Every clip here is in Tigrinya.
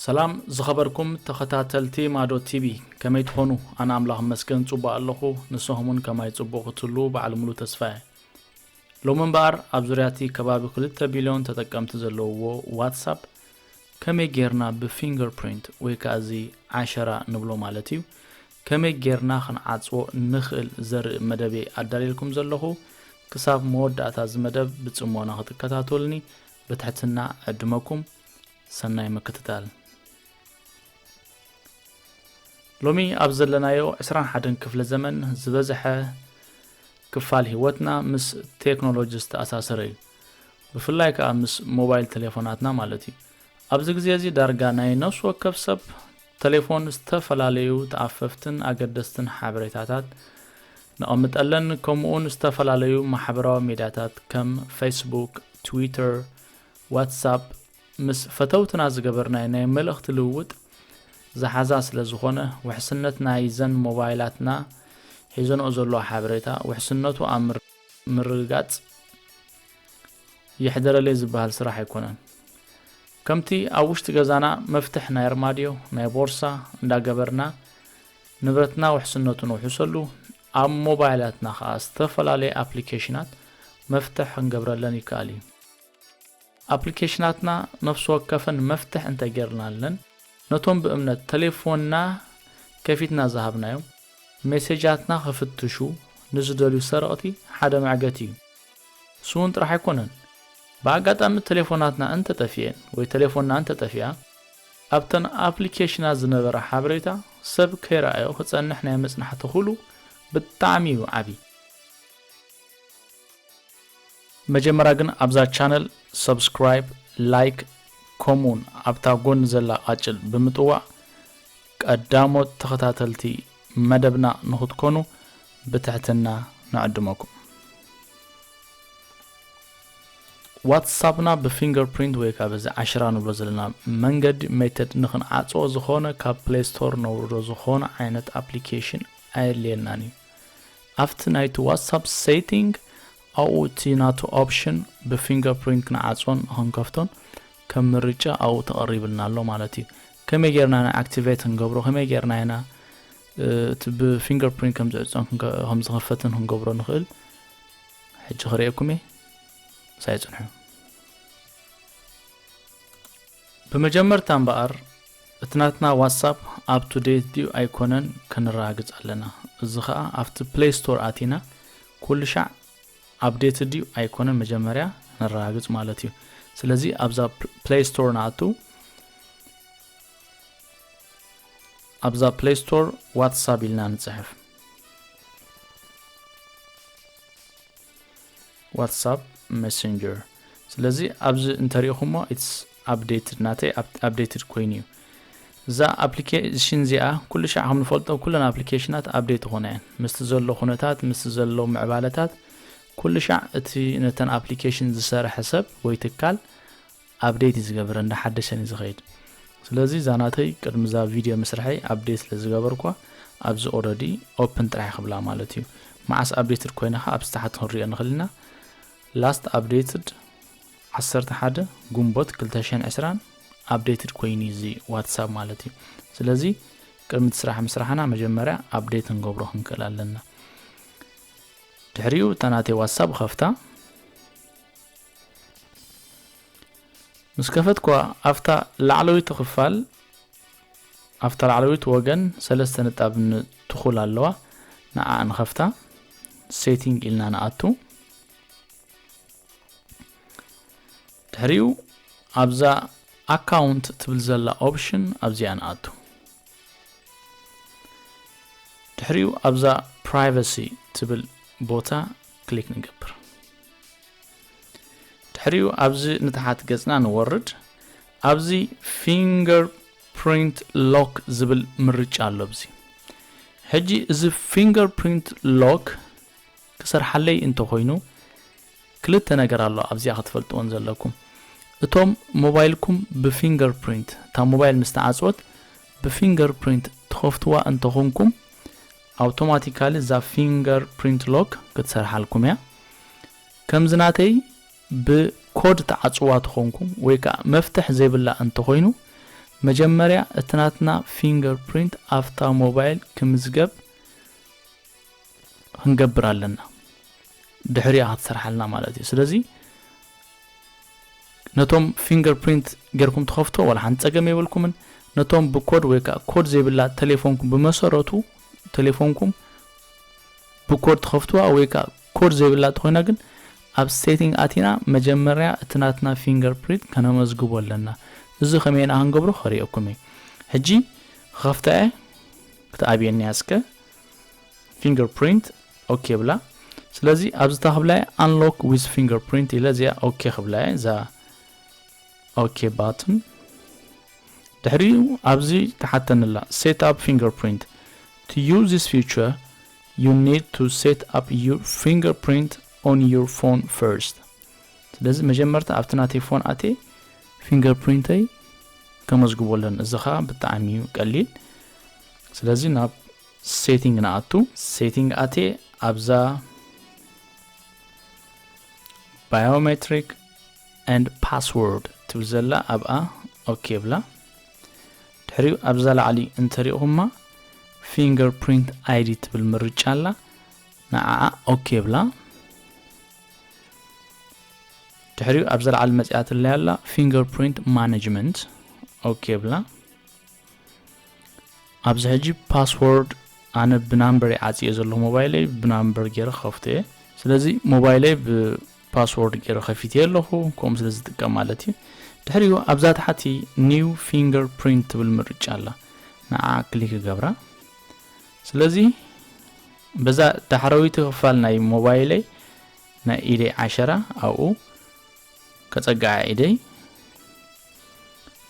ሰላም ዝኸበርኩም ተኸታተልቲ ማዶ ቲቪ ከመይ ትኾኑ ኣነ ኣምላኽ መስገን ጽቡቕ ኣለኹ ንስኹም እውን ከማይ ጽቡቕ ክትህሉ በዓል ሙሉ ተስፋ እየ ሎሚ እምበኣር ኣብ ዙርያ እቲ ከባቢ 2 ቢልዮን ተጠቀምቲ ዘለውዎ ዋትሳፕ ከመይ ጌርና ብፊንገር ፕሪንት ወይ ከዓ እዚ ዓሸራ ንብሎ ማለት እዩ ከመይ ጌርና ክንዓጽዎ ንኽእል ዘርኢ መደብ'የ ኣዳልየልኩም ዘለኹ። ክሳብ መወዳእታ እዚ መደብ ብጽሞና ክትከታተሉኒ ብትሕትና እዕድመኩም። ሰናይ ምክትታል። ሎሚ ኣብ ዘለናዮ ዕስራን ሓደን ክፍለ ዘመን ዝበዝሐ ክፋል ህይወትና ምስ ቴክኖሎጂ ዝተኣሳሰረ እዩ። ብፍላይ ከኣ ምስ ሞባይል ተሌፎናትና ማለት እዩ። ኣብዚ ግዜ እዚ ዳርጋ ናይ ነፍሲ ወከፍ ሰብ ተሌፎን ዝተፈላለዩ ተኣፈፍትን ኣገደስትን ሓበሬታታት ነቐምጠለን ከምኡውን ዝተፈላለዩ ማሕበራዊ ሚድያታት ከም ፌስቡክ፣ ትዊተር፣ ዋትሳፕ ምስ ፈተውትና ዝገበርናይ ናይ መልእኽቲ ልውውጥ ዝሓዛ ስለ ዝኾነ ውሕስነት ናይዘን ሞባይላትና ሒዘንኦ ዘለዎ ሓበሬታ ውሕስነቱ ኣብ ምርግጋፅ የሕደረለይ ዝበሃል ስራሕ ኣይኮነን። ከምቲ ኣብ ውሽጢ ገዛና መፍትሕ ናይ ኣርማድዮ፣ ናይ ቦርሳ እንዳገበርና ንብረትና ውሕስነቱ ንውሕሰሉ፣ ኣብ ሞባይላትና ከኣ ዝተፈላለየ ኣፕሊኬሽናት መፍትሕ ክንገብረለን ይከኣል እዩ። ኣፕሊኬሽናትና ነፍሲ ወከፈን መፍትሕ እንተጌርናለን፣ ነቶም ብእምነት ተሌፎንና ከፊትና ዝሃብናዮም፣ ሜሴጃትና ክፍትሹ ንዝደልዩ ሰረቕቲ ሓደ መዕገቲ እዩ። ንሱ'ውን ጥራሕ ኣይኮነን፣ ብኣጋጣሚ ተሌፎናትና እንተ ጠፊኤን ወይ ተሌፎንና እንተ ጠፊኣ፣ ኣብተን ኣፕሊኬሽናት ዝነበረ ሓበሬታ ሰብ ከይረኣዮ ክጸንሕ ናይ ምጽናሕ ተኽእሉ ብጣዕሚ እዩ ዓቢ። መጀመርያ ግን ኣብዛ ቻነል Subscribe፣ Like ከምኡ'ውን ኣብታ ጎኒ ዘላ ቃጭል ብምጥዋቕ ቀዳሞት ተኸታተልቲ መደብና ንኽትኮኑ ብትሕትና ንዕድመኩም። ዋትሳፕና ብፊንገር ፕሪንት ወይ ካብ እዚ ዓሽራ ንብሎ ዘለና መንገዲ ሜተድ ንክንዓፅኦ ዝኾነ ካብ ፕሌይ ስቶር ነውርዶ ዝኾነ ዓይነት ኣፕሊኬሽን ኣየድልየናን እዩ ኣብቲ ናይቲ ዋትሳፕ ሴቲንግ ኣብኡ እቲ ናቱ ኦፕሽን ብፊንገር ፕሪንት ክንዓፅኦን ንክንከፍቶን ከም ምርጫ ኣብኡ ተቐሪብልና ኣሎ ማለት እዩ። ከመይ ጌርና ኢና ኣክቲቬት ክንገብሮ ከመይ ጌርና ኢና እቲ ብፊንገር ፕሪንት ከም ዝዕጾን ከም ዝኸፈትን ክንገብሮ ንኽእል ሕጂ ክርእየኩም እየ ሳይ ጽንሑ ብመጀመርታ እምበኣር እቲ ናትና ዋትሳፕ ኣብ ቱ ዴት ድዩ ኣይኮነን ከነረጋግጽ ኣለና እዚ ከዓ ኣብቲ ፕሌይ ስቶር ኣቲና ኩሉ ሻዕ ኣፕዴትድ ድዩ ኣይኮነን መጀመርያ ነረጋግፅ ማለት እዩ ስለዚ ኣብዛ ፕሌይ ስቶር ንኣቱ ኣብዛ ፕሌይ ስቶር ዋትሳፕ ኢልና ንፅሕፍ ዋትሳፕ ሜሴንጀር ስለዚ ኣብዚ እንተሪኢኹሞ ኢትስ ኣፕዴትድ ናተይ ኣፕዴትድ ኮይኑ እዩ እዛ ኣፕሊኬሽን እዚኣ ኩሉ ሻዕ ከም ንፈልጦ ኩለን ኣፕሊኬሽናት ኣፕዴት ይኾና እየን ምስቲ ዘሎ ኩነታት ምስቲ ዘሎ ምዕባለታት ኩሉ ሻዕ እቲ ነተን ኣፕሊኬሽን ዝሰርሐ ሰብ ወይ ትካል ኣፕዴት እዩ ዝገብረ እንዳሓደሰን እዩ ዝኸይድ ስለዚ እዛ ናተይ ቅድሚ እዛ ቪድዮ ምስርሐይ ኣፕዴት ስለ ዝገበርኳ ኣብዚ ኦረዲ ኦፕን ጥራሕ ክብላ ማለት እዩ መዓስ ኣፕዴትድ ኮይና ከ ኣብ ዝተሓት ክንሪኦ ንኽእል ኢና Last updated ዓሰርተ ሓደ ግንቦት ክልተ ሽሕን ዕስራን updated ኮይኑ እዩ እዚ ዋትሳፕ ማለት እዩ ስለዚ ቅድሚ እቲ ስራሕ ምስራሕና መጀመርያ update ክንገብሮ ክንክእል ኣለና ድሕሪኡ እታ ናተይ ዋትሳፕ ኸፍታ ምስ ከፈትኳ ኣብታ ላዕለወይቲ ክፋል ኣብታ ላዕለወይቲ ወገን ሰለስተ ንጣብ ን ትኹል ኣለዋ ንዓኣ ንኸፍታ Setting ኢልና ንኣቱ ድሕሪኡ ኣብዛ ኣካውንት ትብል ዘላ ኦፕሽን ኣብዚኣ ንኣቱ ድሕሪኡ ኣብዛ ፕራይቨሲ ትብል ቦታ ክሊክ ንገብር ድሕሪኡ ኣብዚ ንታሓት ገጽና ንወርድ ኣብዚ ፊንገር ፕሪንት ሎክ ዝብል ምርጫ ኣሎ ኣብዚ ሕጂ እዚ ፊንገር ፕሪንት ሎክ ክሰርሓለይ እንተኾይኑ ክልተ ነገር ኣሎ ኣብዚኣ ክትፈልጥዎን ዘለኩም እቶም ሞባይልኩም ብፊንገር ፕሪንት እታ ሞባይል ምስ ተዓፅወት ብፊንገር ፕሪንት ትኸፍትዋ እንተኾንኩም ኣውቶማቲካሊ እዛ ፊንገር ፕሪንት ሎክ ክትሰርሓልኩም እያ ከምዚ ናተይ ብ ኮድ ትዓጽዋ ተኮንኩ ወይ ከኣ መፍትሕ ዘይብላ እንተ ኮይኑ መጀመርያ እቲ ናትና ፊንገር ፕሪንት ኣፍታ ሞባይል ክምዝገብ ክንገብር ኣለና ድሕሪ እያ ክትሰርሓልና ማለት እዩ ስለዚ ነቶም ፊንገር ፕሪንት ጌርኩም ትኸፍቶ ዋላ ሓንቲ ጸገም የብልኩምን ነቶም ብኮድ ወይ ከዓ ኮድ ዘይብላ ቴሌፎንኩም ብመሰረቱ ቴሌፎንኩም ብኮድ ትኸፍትዋ ወይ ከዓ ኮድ ዘይብላ ተኾይና ግን ኣብ ሴቲንግ ኣቲና መጀመርያ እቲ ናትና ፊንገር ፕሪንት ከነመዝግቦ ኣለና እዚ ከመይ ኢና ክንገብሮ ከርእየኩም እየ ሕጂ ክኸፍታ እየ ክትኣብየኒ እያ እስከ ፊንገር ፕሪንት ኦኬ የብላ ስለዚ ኣብዚ ታክብላ እየ ኣንሎክ ዊዝ ፊንገር ፕሪንት ኢለ እዚኣ ኦኬ ክብላ እየ እዛ ኦኬ ባትን ድሕሪኡ ኣብዚ ተሓተኒ ኣላ ሴት ኣፕ ፊንገር ፕሪንት to use this feature You need to set up your fingerprint on your phone first ስለዚ መጀመርታ ኣብቲ ናተይ ፎን ኣትየ ፊንገርፕሪንተይ ከመዝግቦ ኣለኒ እዚ ከዓ ብጣዕሚ እዩ ቀሊል ስለዚ ናብ ሴቲንግ ንኣቱ ሴቲንግ ኣትየ ኣብዛ ባዮሜትሪክ ኤንድ ፓስወርድ ትብል ዘላ ኣብኣ ኦኬ ብላ ድሕሪኡ ኣብዛ ላዕሊ እንተሪእኹማ Finger Print ID ትብል ምርጫ ኣላ ንዓኣ ኦኬ ብላ ድሕሪኡ ኣብዛ ላዕሊ መጽያትለይ ኣላ Finger Print Management ኦኬ ብላ ኣብዚ ሕጂ ፓስወርድ ኣነ ብናምበር ይዓፅየ ዘሎ ሞባይለይ ብናምበር ገይረ ክኸፍቶ እየ ስለዚ ሞባይለይ ፓስዎርድ ጌረ ከፊተዮ ኣለኹ ከምኡ ስለ ዝጥቀም ማለት እዩ ድሕሪኡ ኣብዛ ታሕቲ ኒው ፊንገር ፕሪንት ትብል ምርጫ ኣላ ንዓ ክሊክ ይገብራ ስለዚ በዛ ዳሕረዊቲ ክፋል ናይ ሞባይለይ ናይ ኢደይ ዓሸራ ኣብኡ ከጸግዓ ኢደይ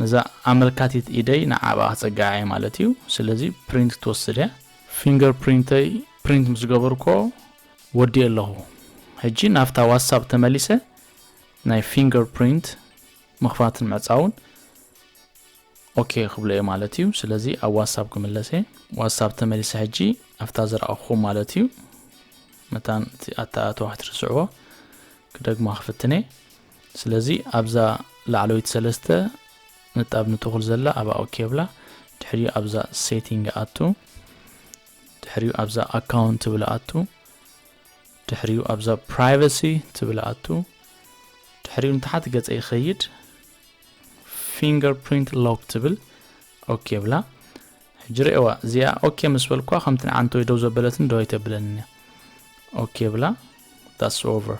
ነዛ ኣመልካቲት ኢደይ ንዓባ ከጸግዓ እየ ማለት እዩ ስለዚ ፕሪንት ክትወስድ እያ ፊንገር ፕሪንተይ ፕሪንት ምስ ገበርኮ ወዲኤ ኣለኹ ሕጂ ናብታ ዋትሳፕ ተመሊሰ ናይ ፊንገር ፕሪንት ምኽፋትን ምዕጻውን ኦኬ ክብሎ እየ ማለት እዩ ስለዚ ኣብ ዋትሳፕ ክምለሰ ዋትሳፕ ተመሊሰ ሕጂ ኣብታ ዝረኣኹ ማለት እዩ መታን እቲ ኣተኣተዋ ክትርስዕዎ ክደግማ ክፍትነ ስለዚ ኣብዛ ላዕለወይቲ ሰለስተ ንጣብ ንትኹል ዘላ ኣብኣ ኦኬ ብላ ድሕሪኡ ኣብዛ ሴቲንግ ኣቱ ድሕሪኡ ኣብዛ ኣካውንት ትብል ኣቱ ድሕሪኡ ኣብዛ ፕራይቨሲ ትብል ኣቱ ድሕሪኡ ንታሓት ገፀ ይኸይድ ፊንገር ፕሪንት ሎክ ትብል ኦኬ ብላ ሕጂ ርእዋ እዚኣ ኦኬ ምስ በልኳ ከምቲ ንዓንተ ወይ ደው ዘበለትን ደው ኣይተብለንን እያ ኦኬ ብላ ዳስ ኦቨር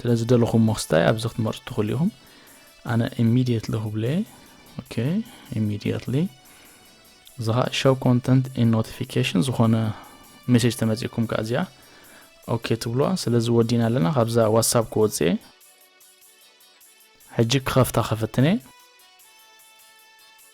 ስለ ዝደለኹሞ ክስታይ ኣብዚ ክትመርጹ ትኽእሉ ኢኹም ኣነ ኢሚድየትሊ ክብለ ኦኬ ኢሚድየትሊ እዚ ከዓ ሸው ኮንተንት ኢን ኖቲፊኬሽን ዝኾነ ሜሴጅ ተመፂእኩም ከዓ እዚኣ ኦኬ ትብልዋ ስለዚ ወዲና ኣለና ካብዛ ዋትሳፕ ክወፅኤ ሕጂ ክኸፍታ ከፈትነ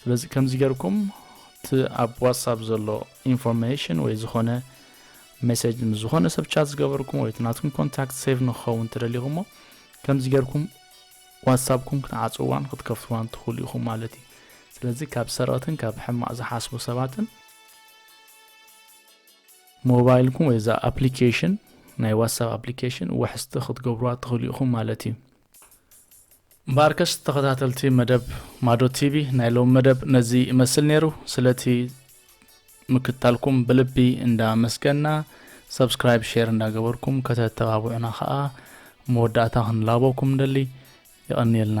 ስለዚ ከምዚ ገርኩም እቲ ኣብ ዋትሳፕ ዘሎ ኢንፎርሜሽን ወይ ዝኾነ ሜሴጅ ምስ ዝኾነ ሰብ ቻት ዝገበርኩም ወይ እቲ ናትኩም ኮንታክት ሴቭ ንክኸውን ተደሊኹሞ ከምዚ ገርኩም ዋትሳፕኩም ክትዓፅዋን ክትከፍትዋን ትኽእሉ ኢኹም ማለት እዩ ስለዚ ካብ ሰረቕትን ካብ ሕማቕ ዝሓስቡ ሰባትን ሞባይልኩም ወይ እዛ ኣፕሊኬሽን ናይ ዋትሳፕ ኣፕሊኬሽን ውሕስቲ ክትገብሩዋ ትኽእሉ ኢኹም ማለት እዩ እምበኣርከስ ተኸታተልቲ መደብ ማዶ ቲቪ ናይ ሎሚ መደብ ነዚ ይመስል ነይሩ። ስለቲ ምክታልኩም ብልቢ እንዳ መስገና ሰብስክራይብ ሼር እንዳገበርኩም ከተተባብዑና ከዓ መወዳእታ ክንላበኩም ንደሊ የቐንየልና።